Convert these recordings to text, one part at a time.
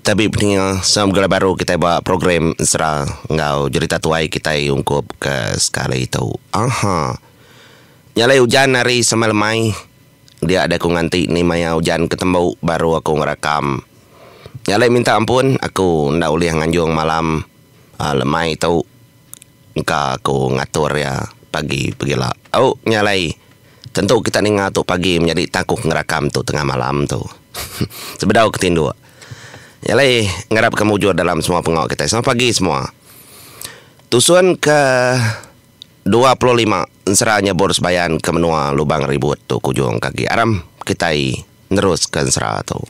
Tabi pendenga semua begulai baru kitai ba program Ezra enggau jerita tuai kitai ungkup ke sekali tu. Aha. Nya alai ujan hari sama lemai. Dia deh aku nganti ni maya ujan ke tembu baru aku ngerakam. Nya alai minta ampun aku enda ulih nganjung malam lemai tu. engka aku ngatur iya pagi pegila. Au nya alai, tentu kita ninga tu pagi menyadi tang aku ke ngerakam tu tengah malam tu. Sebedau ke tinduk. Nya alai ngarap ke mujur dalam semua pengawa kitai. Selamat pagi semua. Tusun ke dua puluh lima ensera nyebur sebayan ke menua Lubang Ribut tu ke ujung ke agi aram kitai neruska ensera tu.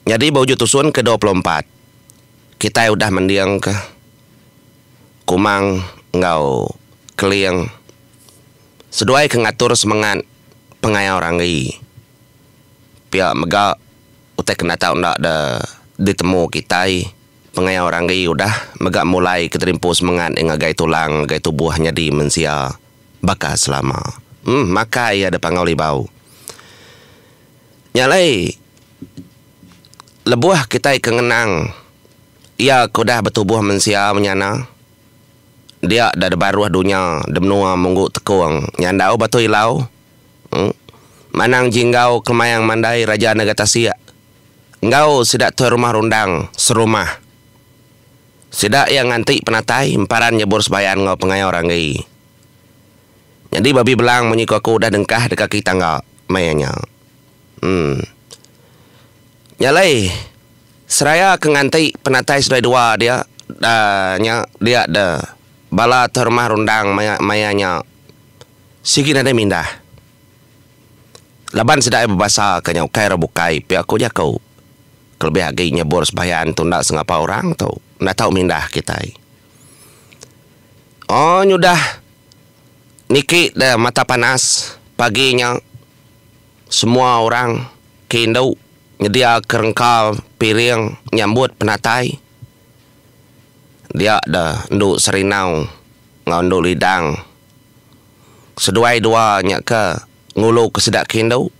Nyadi ba ujung tusun ke dua puluh empat. Kitai udah mendingka Kumang enggau Keling seduai ke ngatur semengat pengayau ranggi pia mega utai ke nata enda de ditemu kitai pengayau ranggi udah mega mulai keterimpu semengat ngagai tulang ngagai tubuh nyadi mensia baka selama makai iya de pangau libau nya alai Lebuh kitai ke ngenang Iya ke udah betubuh mensia menyana, dia da debaruh dunya demenua munggu tekong nyandau batu ilau, manang jinggau kemayang mandai Raja Nega Tasik enggau sida Tuai Rumah Rundang serumah. Sida iya nganti penatai emparan nyebur sebayan enggau pengaya orang agi. Nyadi babi belang munyi ku aku udah dengkah deka kaki tangga, meh iya nya. Em. Nya alai, seraya ke nganti penatai seduai dua dia da nya dia da bala tu rumah rundang maya maya nya sigi nadai mindah. Laban sida iya bebasa ka nya ukai ra bukai pia ku jaku. Kelebih agi nyebur sembahyang tu enda sengapa orang tu enda tau mindah kitai. Oh nyudah niki da mata panas pagi nya. Semua orang ke indu nyediaka rengkal piring nyambut penatai dia da endu Serindau enggau endu Lidang. Seduai dua nya ke nguluka sida ke indu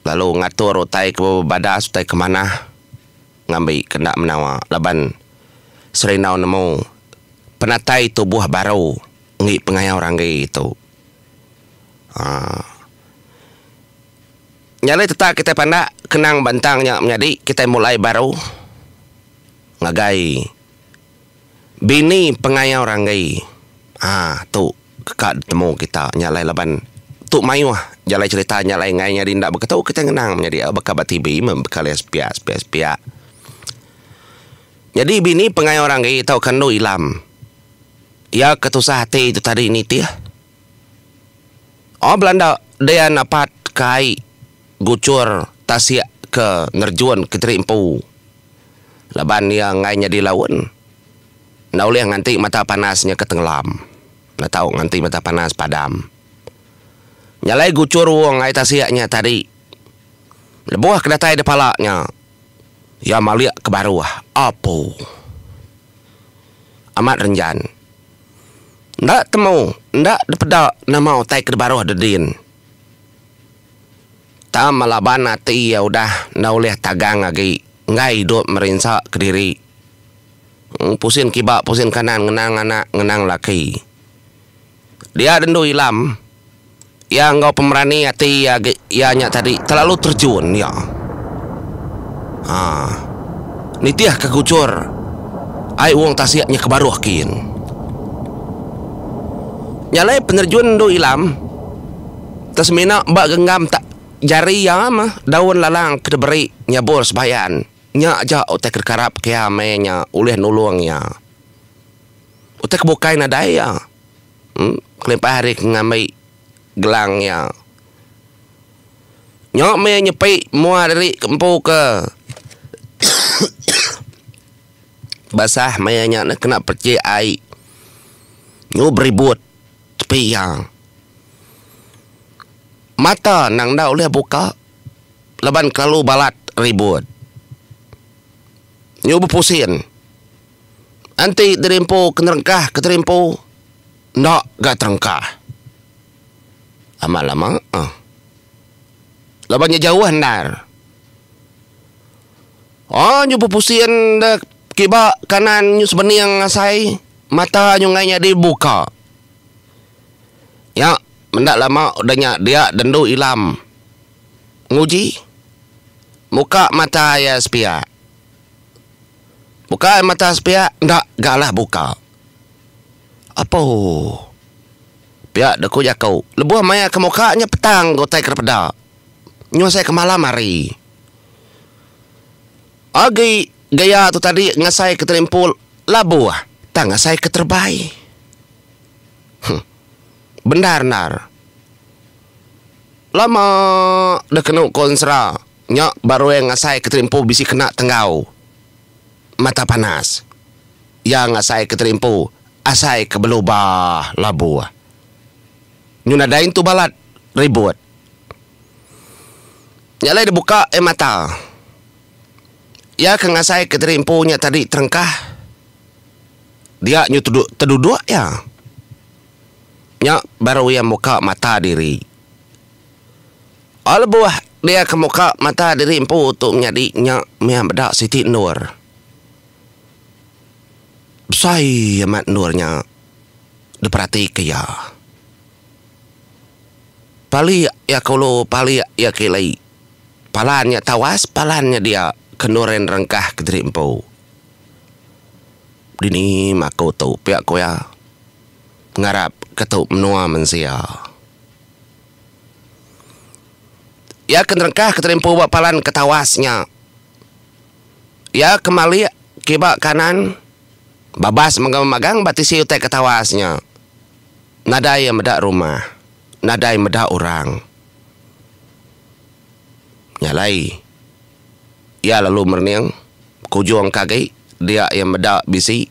lalu ngatur utai ke bebadas utai ke manah ngambi ke enda menawa laban Serindau nemu penatai tubuh baru enggi pengayau ranggi tu. Haa. Nya alai tetap kitai pandak kenang ba entang nya menyadi kitai mulai baru ngagai bini pengayau ranggai. Haa tu ka ditemu kita nya alai laban tu mayuh jalai cherita nya alai ngai nyadi enda beketu kitai ngenang menyadi au baka ba TV meh baka layan sepiak sepiak sepiak. Nyadi bini pengayau ranggai tauka endu ilam. Iya ketusah ati tu tadi nitih. Oh belanda dian apat ke ai guchur tasik ke ngerejun ke teri empu laban iya enggai nyadi laun enda ulih nganti mata panas nya ke tengelam enda tau nganti mata panas padam. Nyalai guchur uong ai tasik nya tadi lebuh ke datai da pala nya iya malik ke baruh apu amat renjan. Enda temu, enda dipeda nama utai ke dibaruh Dedin. Tama laban ati iya udah enda ulih tagang agi enggai idup merinsa kediri. Pusin kiba pusin kanan ngenang anak ngenang laki. Dia rindu Ilam. Iya enggau pemerani ati iya agi iya nya tadi terlalu terjun iya. Ha. Nitih ke kuchur ai wong tasik nya ke baruh kin. Nya alai penerjun endu ilam te semina ba genggam tak jari iya meh daun lalang ke diberi nyabur sebayan. Nya aja utai ke dikarap ke iya meh nya ulih nulung iya. Utai ke bukai nadai iya. Kelimpah ari ke ngambi gelang iya. Nyok meh iya nyepi mua diri ke empu ke basah meh iya nya kena pechik ai nyu beribut tepi iya. Mata nang enda ulih buka laban kelalu balat ribut. Nyu bepusin. Enti dirimpu ke nerengkah ke terimpu enda ga terengkah. Amat lama eh. Laban nya jauh endar. Oh nyu pepusin da kiba kanan nyu sebening asai mata nyu ngai nyadi buka. Nya menda lama udah nya dia dendu ilam nguji muka mata iya sepiak. Bukai mata sepiak enda ga alah buka. Apuh. Pia de ku jaku, lebuh maya ke muka nya petang ga utai ke dipeda. Nyuh sai ke malam hari. Agi gaya tu tadi ngasai ke telimpul labuh tang ngasai ke terebai. Huh. Bendar endar. Lama deh kenu ko ensera. Nya baru iya ngasai Kenteri Empu bisi kena tenggau mata panas. Iya ngasai Kenteri Empu asai ke belu ba labu. Nyu nadai intu balat ribut. Nya alai dibuka iya mata. Iya ke ngasai Kenteri Empu nya tadi terengkah dia nyu teduduk iya. Nya baru iya muka mata diri Ba lebuh dia ke muka mata diri empu tu menyadi nya meh meda siti endur. Besai amat endur nya diperatika iya. Palik iya ke ulu palik iya ke ili. Palan iya tawas palan iya dia ke endur iya nerengkah ke diri empu. Dini maku tu pia ku iya ngarap ke tu menua mensia. Iya ke nerengkah keterimpu ba palan ke tawas nya. Iya ke malik kiba kanan babas mega magang ba tisi utai ke tawas nya. Nadai iya meda rumah. Nadai meda orang. Nya alai iya lalu merening ke ujung ke agi dia iya meda bisi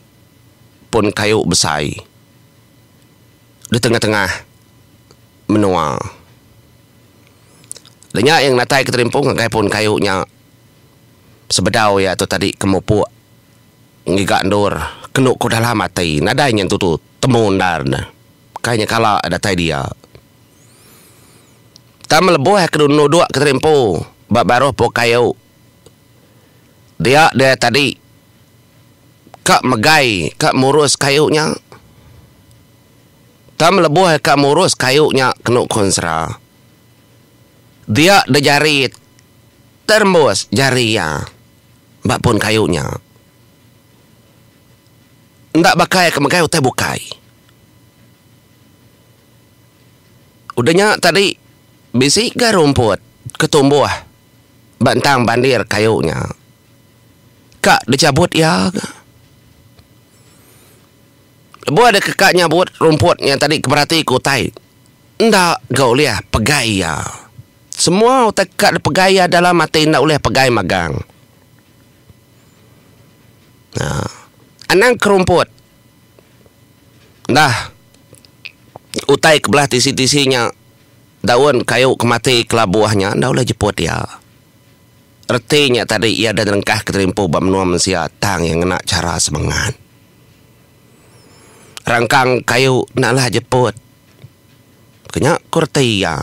pun kayu besai. Di tengah-tengah menua. Le nya iya ngenatai keterimpung ngagai puun kayu nya sebedau iya tu tadi ke mupuk ngiga endur kenu ku dalam ati nadai nya entu tu temu endar ne kai nya kala iya datai dia. Tang melebuh iya ke nuduk keterimpu ba baruh puuk kayu. Dia dia tadi ka megai ka murus kayu nya. Tang lebuh ka murus kayu nya kenu konsra. Dia da jari terembus jari iya ba pun kayu nya. Enda baka iya ke megai utai bukai. Udah nya tadi bisi ga rumput ke tumbuh. ba entang bandir kayu nya ka dichabut iya ga. Lebuh deka ka nyabut rumput nya tadi ke berati ku utai enda ga ulih pegai iya. Semua utai ka dipegai iya dalam ati enda ulih pegai magang. Aa anang ke rumput dah utai ke belah tisi-tisi nya Daun kayu ke mati kelabuh nya enda ulih jeput iya. Reti nya tadi iya enda nyelengkah ke terimpu ba menua mensia tang iya ngena chara semengat. Rangkang kayu enda alah jeput. Ke nya ku reti iya.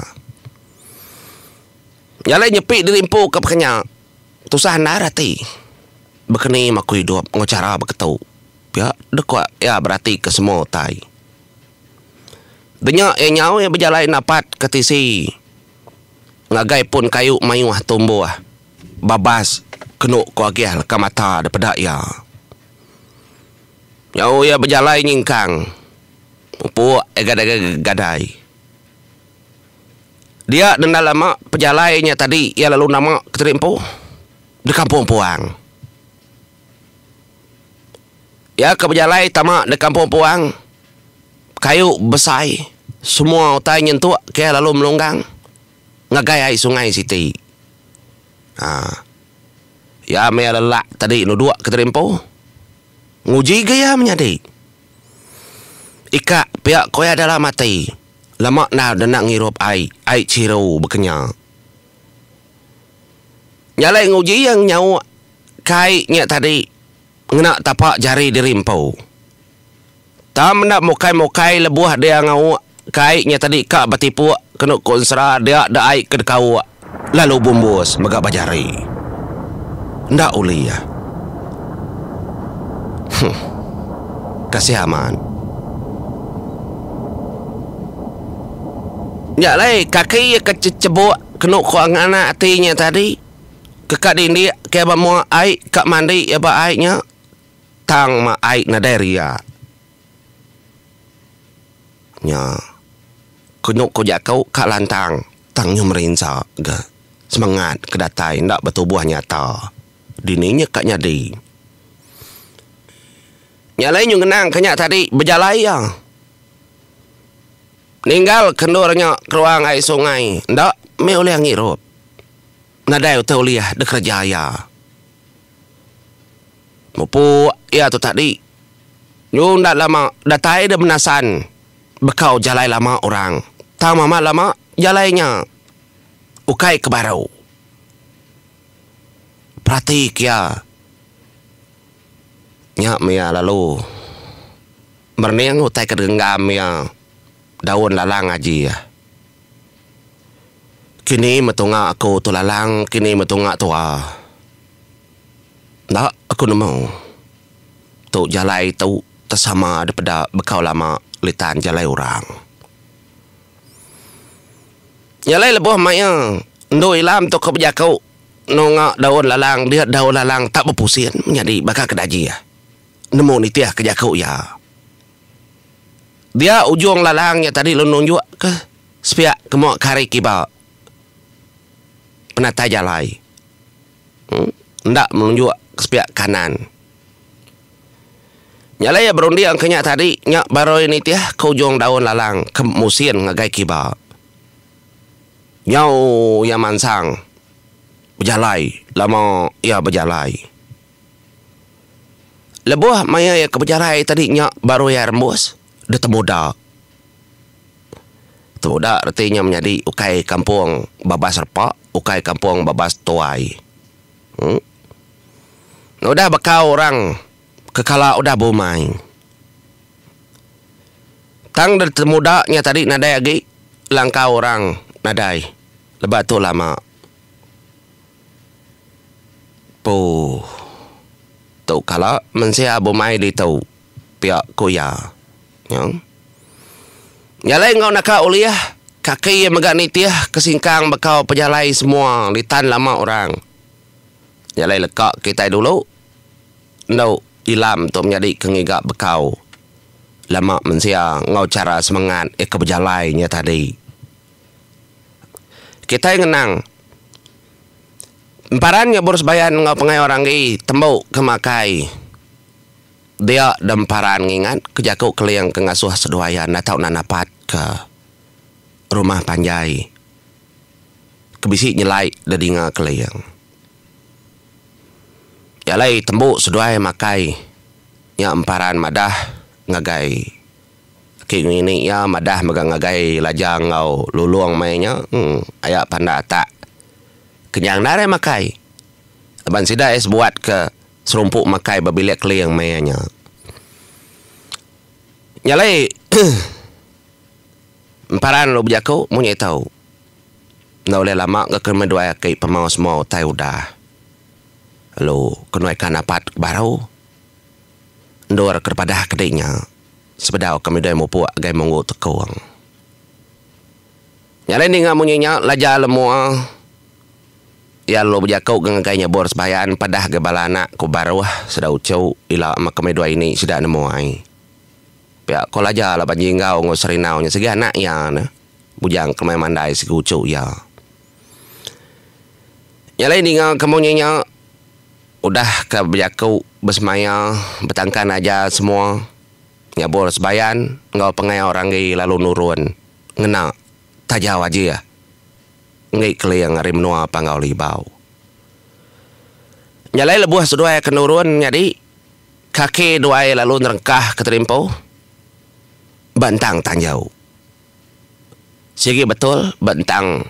Nyalai nyepi dirimpu ke peka nya tusah endar ati. Baka ni maku idup enggau chara beketu pia deka iya beratika semua utai. Denya iya nyau iya bejalai napat ke tisi ngagai pun kayu mayuh tumbuh babas kenu ko agih leka mata dipeda iya. Nyau iya bejalai nyingkang mupuk iya gadai gadai. Dia nenda lama pejalai iya tadi iya lalu nama ke tadi empu di kampung puang. Iya ke bejalai tama nda kampung puang kayu besai semua utai nyentuk ke lalu melunggang ngagai ai sungai siti um iya meh lelak tadi nuduk ke tadi empu nguji ga iya menyadi ikak pia ko iya adalah mati lama nau denda ngirup ai ai chiru bekenyau jalai nguji iya nyauk Kai nya tadi ngena tapa jari diri empu. Tam enda mukai-mukai lebuh dia ngauk kai nya tadi ka betipuk kenu ku ensera dia da ai ke dekauk lalu bumbus mega ba jari. Enda uli iya. Huh. Kasih amat. Nya alai kaki iya ke cecebuk kenu ku angan ati nya tadi. Keka dindi ke ba mua ai ka mandi iya ba ai nya tang ma ai nadai ria nya kenu ku jaku ka lantang tang nyu merinsa ga semengat ke datai enda betubuh nyata dini nya ka nyadi nya alai nyu ngenang ka nya tadi bejalai iya ninggal ke endur nya keruang ai sungai enda meh ulih ngirup. Nadai utai ulih dikereja iya. Mupuk iya tu tadi. Nyu enda lama datai deh menasan bekau jalai lama orang. Tang amat lama jalai nya ukai ke baru. Perati ke iya. Nya meh iya lalu merening utai ke genggam iya daun lalang aji iya. Kini metunga aku tu lalang kini metunga tua. Enda aku nemu. Tu jalai tu tesama dipeda bekau lama litan jalai orang. Jalai lebuh maia endu ilam tu ke bejaku nunga daun lalang dia daun lalang tak bepusin menyadi baka ke dajih nemu nitih ke jaku iya. Dia ujung lalang nya tadi lalu nunjukka sepiak kemua ke hari kiba penatai jalai enda menunjuk ke sepiak kanan. Nya alai iya berunding ke nya tadi nya barui nitih ke ujung daun lalang ke musin ngagai kiba. Nyau iya mansang bejalai lama iya bejalai. Lebuh maya iya ke bejalai tadi nya baru iya rembus deh temuda. Temuda reti inya menyadi ukai kampung babas repa, ukai kampung babas tuai. Em Udah baka orang ke kala udah bumai. Tang deh temuda nya tadi nadai agi langkau orang nadai. Lebuh tu lama. Puuh. Tu kala mensia bumai ditu, pia ku iya. Nyang nyalai enggau naka ulih, kaki iya mega nitih ke singkang bekau pejalai semua ditan lama orang. Nyalai leka kitai dulu endo ilam tu menyadi ke ngiga bekau lama mensia enggau chara semengat iya ke bejalai nya tadi. Kitai ngenang, emparan nyebur sebayan enggau pengai orang agi tembu ke makai dia da emparan ngingat ke jaku Keling ke ngasuh seduai iya enda tau nan apat ke rumah panjai ke bisi nyelai da dinga Keling. Iya alai tembu seduai makai nya emparan madah ngagai. King ngini iya madah mega ngagai Laja enggau Lulong meh nya aya pandak atak kenyang enda arai makai laban sida iya sebuat ke serumpu makai ba bilik keling meh iya nya. Nya alai emparan lalu bejaku mung nya ito enda ulih lama ga kemeduai aki pemau semua utai udah lalu kenuai kan apat baru. Endur ke dipadah ke dinya sebedau ke midoi mupuk gai munggu tekung. Nya alai ninga munyi nya laja le mua iya lalu bejaku ke ngagai nyebur sebayan padah gai bala anak ku baruh sida uchu ila meh ke midoi ini sida nemu ai. Pia ko laja laban jinggau enggau serinau nya sigi anak iya ne bujang ke meh mandai sigi uchu iya. Nya alai ninga kampung nya nya udah ka bejaku besemaya betangkan aja semua nyabur sebayan enggau pangai orang agi lalu nurun ngena taja wajih enggi keling ari menua Panggau Libau. Nya alai lebuh seduai ke nurun nyadi kaki duai lalu nerengkah ke terimpuh ba entang tanjau. Sigi betul ba ntang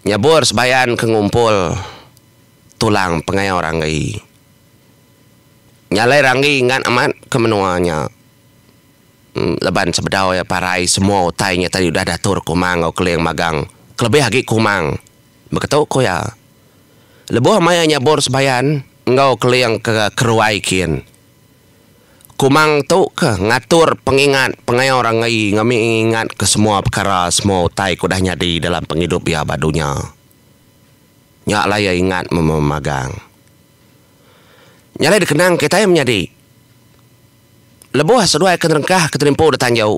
nyabur sebayan ke ngumpul tulang pengayau ranggi. Nya alai ranggi ngat amat ke menua nya laban sebedau iya parai semua utai nya tadi udah diatur Kumang enggau Keling magang kelebih agi Kumang. Baka tu ku iya, lebuh maya nyabur sebayan enggau Keling ke ke ruai kin. Kumang tu ke ngatur pengingat pengawa orang ngai ngami ingat ke semua pekara semua utai ke udah nyadi dalam pengidup iya ba dunya. Nya alai iya ingat memagang. Nya alai dikenang kitai menyadi. Lebuh seduai ke nerengkah ke tenempu da tanju,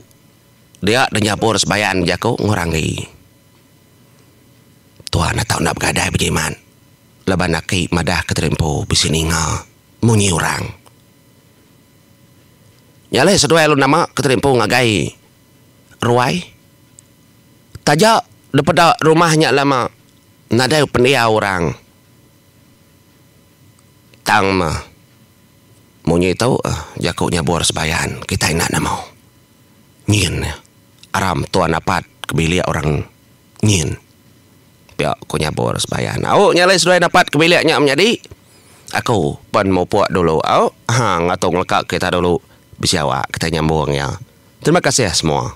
dia denyabur sebayan jaku ngurangi. Tuan enda tau enda begadai bejimat laban aki madah ke tenempu bisi ninga. munyi orang. Nya alai seduai alu nama ke tadi empu ngagai ruai. Taja dipeda rumah nya lama nadai pendiau orang. Tang meh munyi tu jaku nyabur sebayan kitai enda nemu. Nyin aram tuan apat ke bilik orang. Nyin. Pia ku nyabur sembahyang. Au nya alai seduai dapat ke bilik nya menyadi. Aku pen mupuk dulu au. Ha ngatu ngeleka kita dulu bisi awak kita nyambung iya. Terima kasih semua.